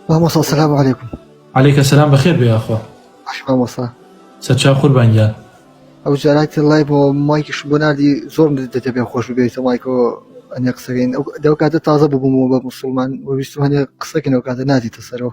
مامۆسا سلام علیکم علیکە سلام بەخێر بێ یاخوا باش مامۆسا سەرچاو قوربان گیان ئەو جاراتی لای بۆ مایکیش بۆ نردی زۆر دەتە پێ خۆش بێتە مایکۆ ئەنێ قسەکەین ئەو دەو کاتە تازە ببوومەوە بە مسلمان وویستم هەنێ قسەکەن ئەو کاتە نادیتە سەرەوە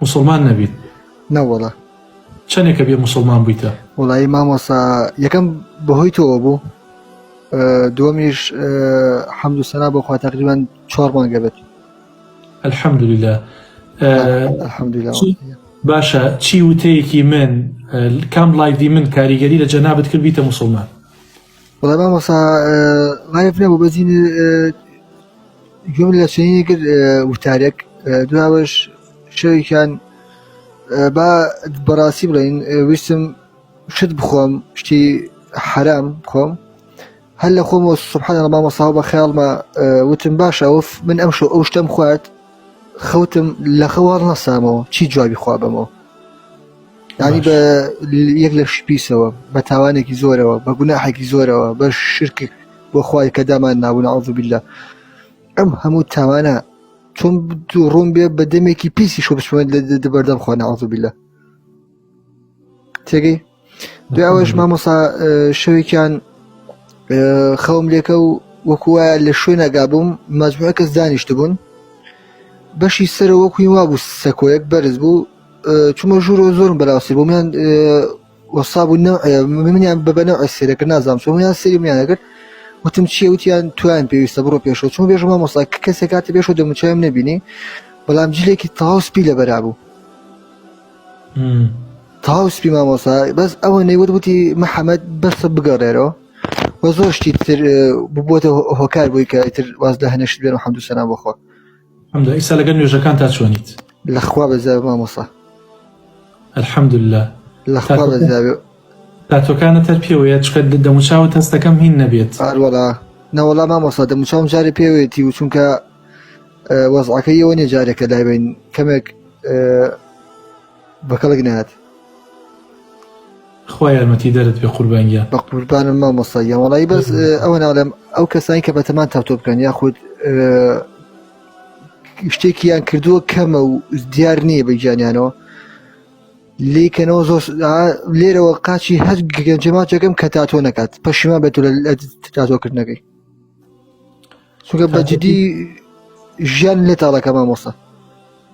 موسڵمان نەبیت نەوەڵە چەندێکە بێ موسڵمان بوویتە وڵایی مامۆسا یەکەم بەهۆی تۆ بوو دووەمیش حەمد و سەنا بۆخوا تقریبان چۆڕ مانگە بێت الحەمدللا باشە چی وتەیەکی من کام لایڤی من کاریگەری لە جەنابەت کرد بیتە مسلمان بەڵێ مامۆسا مایف نەبوو بەجین گوێم لە چنینی کرد وتارێک دراوەش شەوێکیان با بەڕاستی بڵین ویستم شت بخۆم شتی حرام خۆم هەر لە خۆمەوە سبحان مامۆسا بە خیاڵمە وتم باشە ئەوف من ئەم شو ئەو شتم خوارد خەوتم لە خەوار نەسامەوە چی جوابی خوا بەمەوە ینی بە یەک لە شپیسەوە بە تاوانێکی زۆرەوە بە گوناحێکی زۆرەوە بە شرکێک بۆ خوای کە دامان نابوون عزبیلا ئەم هەموو تاوانە چۆن ڕوون بێ بە دەمێکی پیسی شۆ بچمە دەبەردەم خۆ نازبیلا تێگەی دوایش مامۆسا شەوێکیان خەوم لێکە و وەکوە لە شوێنەگا بووم مەجموعە کەس دانیشت بوون بەشی سەرە وەکوی وا بوو سەکۆیەک بەرز بوو چمە ژوورۆ زۆرم بەراوسی بوو میان وەساب و منیان بەبەنە ئەسیرەکە نازام سۆمیان سری میان دەکرد وتم چیە وتیان تویان پێویستە بڕۆ پێشەوە چون بێژ مامۆسا کەسێک کاتە پێشەوە دەموچایم نبینی بەڵام جلێکی تاوسپی لە بەرابوو تاو سپی مامۆسا بەس ئەوەنەی وت وتی محەممەد بەسە بگەڕێرەوە وە زۆر شتی تر ببووتە هۆکار بووی کە ئیتر واز لە هەنێشت بێن و حەمدو سەنا بخۆ حمد ئیسا لەگەل نوێژەکان تا چۆنیت لەخوا بەزای مامۆسا الحمد لله لەخوا بەزاوێ تاتۆکانت هەر پێوەیە چکە دەموچاوت هەستەکەم هین نەبێت. ئەروەڵا نەوەڵا مامۆستا دەموچاوم جارێ پێوێتی و چونکە وەزعەکە یەوە نیە جارێکە لایبین کەمێک بەکەڵک نات خۆ یارمەتی دەرت پێ قوربانگیان بە قوربانم مامۆستا یاوەڵی بەس ئەوە ناڵێم ئەو کەسانی کە بەتەمان تاوتۆ بکەن یاخود شتێکیان کردووە کەمە و دیار نییە بە گیانیانەوە لی کەنەوە زۆر لێرەوە قاچی هەر گەنجێ ماچەکەم کە تاتۆ نەکات پەشیما بێت لە تاتۆکردنەکەی چونکە بەجددی ژیان لێ تاڵەکە مامۆستا